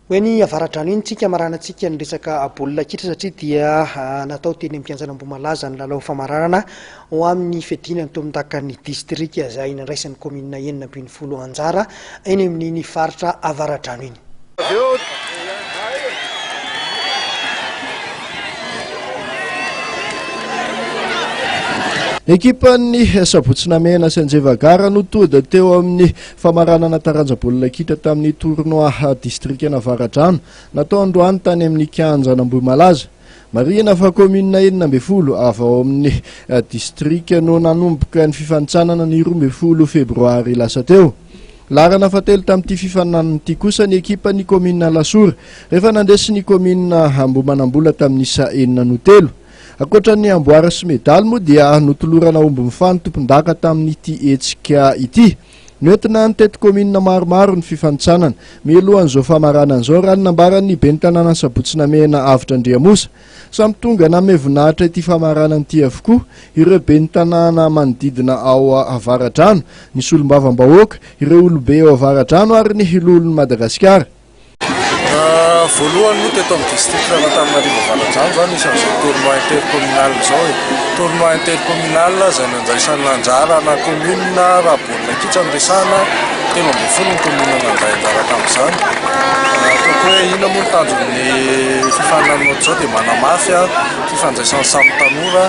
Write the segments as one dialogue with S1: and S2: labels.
S1: Ho eny Avaradrano eny tsika maranantsika ny resaka baolina kitra satria dia natao teny amin'ny kianjan' Ambohimalaza ny lalao famaranana ho amin'ny fiadiana ny tombondakan'ny distrika izay nandraisan'ny kaominina enina ambin'ny folo anjara eny amin'iny faritra Avaradrano iny.
S2: Ekipan'ny Sabotsinamena sy Anjevagara no tody teo amin'ny Famaranana taranja baolina kitra tamin'ny tournoi distrikan'Avaradrano natao androany tany amin'ny kianjan'Ambohimalaza. Marihina fa kaominina enina ambin'ny folo avy ao amin'ny distrika no nanomboka ny fifanintsanana ny roa ambin'ny folo febroary lasa teo. Laharana fahatelo tamin'ity fifaninanana ity kosa ny ekipan'ny kaominina Alasora rehefa nandresy ny kaominina Ambohimanambola tamin'ny isa enina no telo. Ankoatra ny amboara sy medaly moa dia notolorana omby mifano tompondaka tamin'ity hetsika ity. Noentina ny teto kaominina maromaro ny fifanintsanana. Mialohan'izao famaranana izao, raha ny nambaran'ny ben'ny tanàna Sabotsy Namehana Avotra Andriamosa. Samy tonga nanome voninahitra ity famaranana ity avokoa ireo ben'ny tanàna manodidina ao Avaradrano, ny solombavambahoaka, ireo olobe ao Avaradrano ary ny loholon'i Madagasikara.
S3: Voalohany moa teto amin'ny district an'Antananarivo Avaradrano izany isan'izao tournoi intercommunal izao e. Tournoi intercommunal izay nandraisan'ny anjara ana commune raha baolina kitra no resahana, telo ambin'ny folo ny commune nandray anjara tamin'izany. Ataoko hoe inona moa ny tanjon'ny fifaninanana ohatr'izao dia manamafy fifandraisan'ny samy tanora.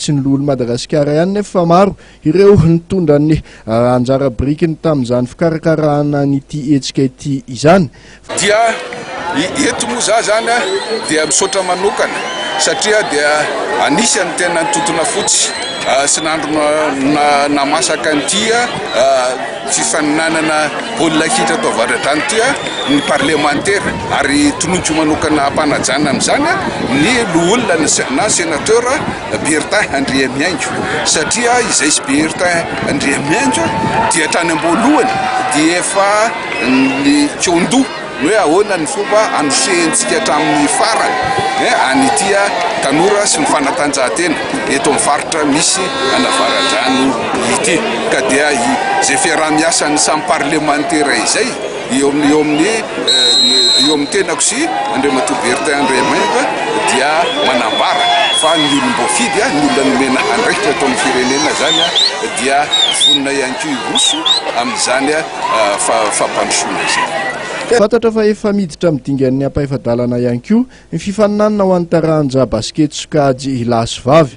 S2: Tsy ny loholon'i Madagasikara ihany nefa fa maro ireo nitondra ny anjara birikiny tamin'izany fikarakarahana an'ity hetsika ity izany. Dia
S4: eto moa za zany dia misaotra manokana satria dia anisany tena nitontona fotsy sy nandro namasaka an'ity fifaninanana baolina kitra ato Avaradrano ity ny parlemantera ary tononiko manokana hampanajana amin'izany ny loholona na senateur Bertin Andriamihaingo satria izay sy Bertin Andriamihaingo dia hatrany am-boalohany dia efa nikaon-doha ny hoe ahoana ny fomba hanosihentsika hatramin'ny farany an'ity tanora sy ny fanatanjahantena eto amin'ny faritra misy an'Avaradrano ity ka dia izay fiaraha-miasan'ny samy parlemantera izay eo amin'ny eo amin'ny eo amin'ny tenako sy Andriamatoa Bertin Andriamaimba dia manambara fa ny olom-boafidy ny olona nomena andraikitra eto amin'ny firenena izany dia vonona ihany koa hiroso amin'izany fampandrosoana izay. Fantatra fa
S2: efa miditra amin'ny dingan'ny ampahefa-dalana ihany koa ny fifaninanana ho an'ny taranja basikety sokajy lahy sy vavy.